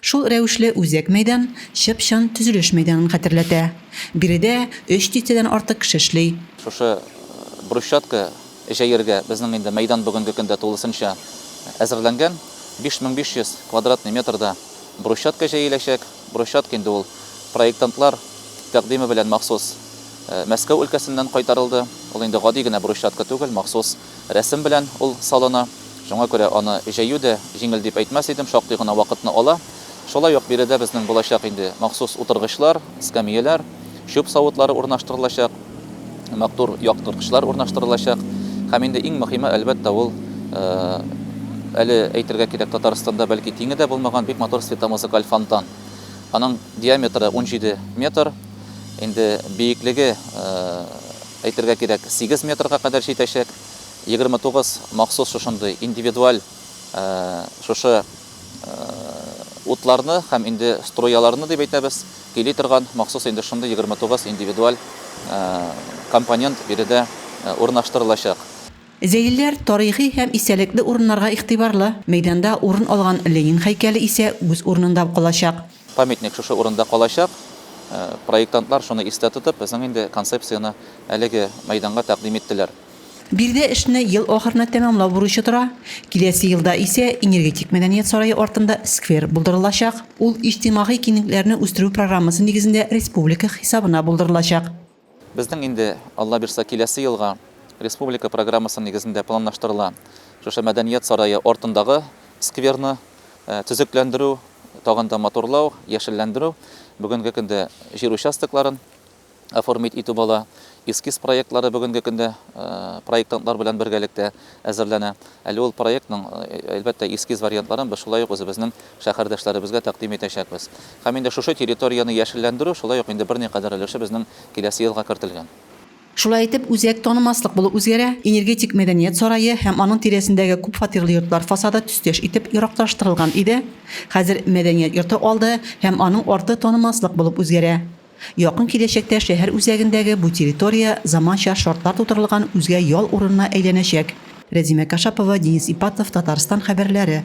Шул рәвешле үзәк мәйдан чып-чын төзелеш мәйданын хәтерләтә. Биредә өч дистәдән артык кеше эшли. Шушы брусчатка җәергә безнең инде мәйдан бүгенге көндә тулысынча әзерләнгән. 5500 квадратный метрда брусчатка җәеләчәк. Брусчатка инде ул проектантлар тәкъдиме белән махсус Мәскәү өлкәсеннән кайтарылды. Ул инде гади генә брусчатка түгел, махсус Рәсем белән ул салына. Шуңа күрә аны җәю дә җиңел дип әйтмәс идем, шактый гына вакытны ала. Шулай ук биредә безнең булачак инде махсус утыргычлар, эскәмияләр, чүп савытлары урнаштырылачак, мактур яктырткычлар урнаштырылачак. Һәм инде иң мөхиме, әлбәттә, ул, әле әйтергә кирәк, Татарстанда бәлки тиңе дә булмаган бик матур светомузыкаль фонтан. Аның диаметры унҗиде метр, инде биеклеге, Әйтергә кирәк, сигез метрга кадәр җитәчәк, егерме тугыз махсус шушындый индивидуаль шушы утларны һәм инде струяларны дип әйтәбез, көйли торган махсус инде шундый егерме тугыз индивидуаль компонент биредә урнаштырылачак. Зәйлеләр тарихи һәм истәлекле урыннарга игътибарлы, мәйданда урын алган Ленин һәйкәле исә үз урынында калачак. Памятник шушы урында калачак. Проектантлар шуны истә тотып, безнең инде концепцияне әлеге мәйданга тәкъдим иттеләр. Биредә эшне ел ахырына тәмамлау бурычы тора. Киләсе елда исә Энергетик мәдәният сарае артында сквер булдырылачак. Ул иҗтимагый киңлекләрне үстерү программасы нигезендә республика хисабына булдырылачак. Безнең инде, Алла бирса, киләсе елга республика программасы нигезендә планлаштырыла шушы Мәдәният сарае артындагы скверны төзекләндерү, тагын да матурлау, яшелләндерү. Бүгенге көндә җир участокларын оформить итү бала, эскиз проектлары бүгенге көндә проектантлар белән бергәлектә әзерләнә. Әле ул проектның, әлбәттә, эскиз вариантларын без шулай ук үзебезнең шәһәрдәшләребезгә тәкъдим итәчәкбез. Һәм инде шушы территорияне яшелләндерү шулай ук инде берникадәр өлеше безнең киләсе елга кертелгән. Шулай итеп, үзәк танымаслык булып үзгәрә, Энергетик мәдәният сарае һәм аның тирәсендәге күп фатирлы йортлар фасады төстәш итеп яраклаштырылган иде, хәзер мәдәният йорты алды һәм аның арты танымаслык булып үзгәрә. Якын киләчәктә шәһәр үзәгендәге бу территория заманча шартлар тудырылган үзгә ял урынына әйләнәчәк. Рәзимә Кашапова, Денис Ипатов, Татарстан хәбәрләре.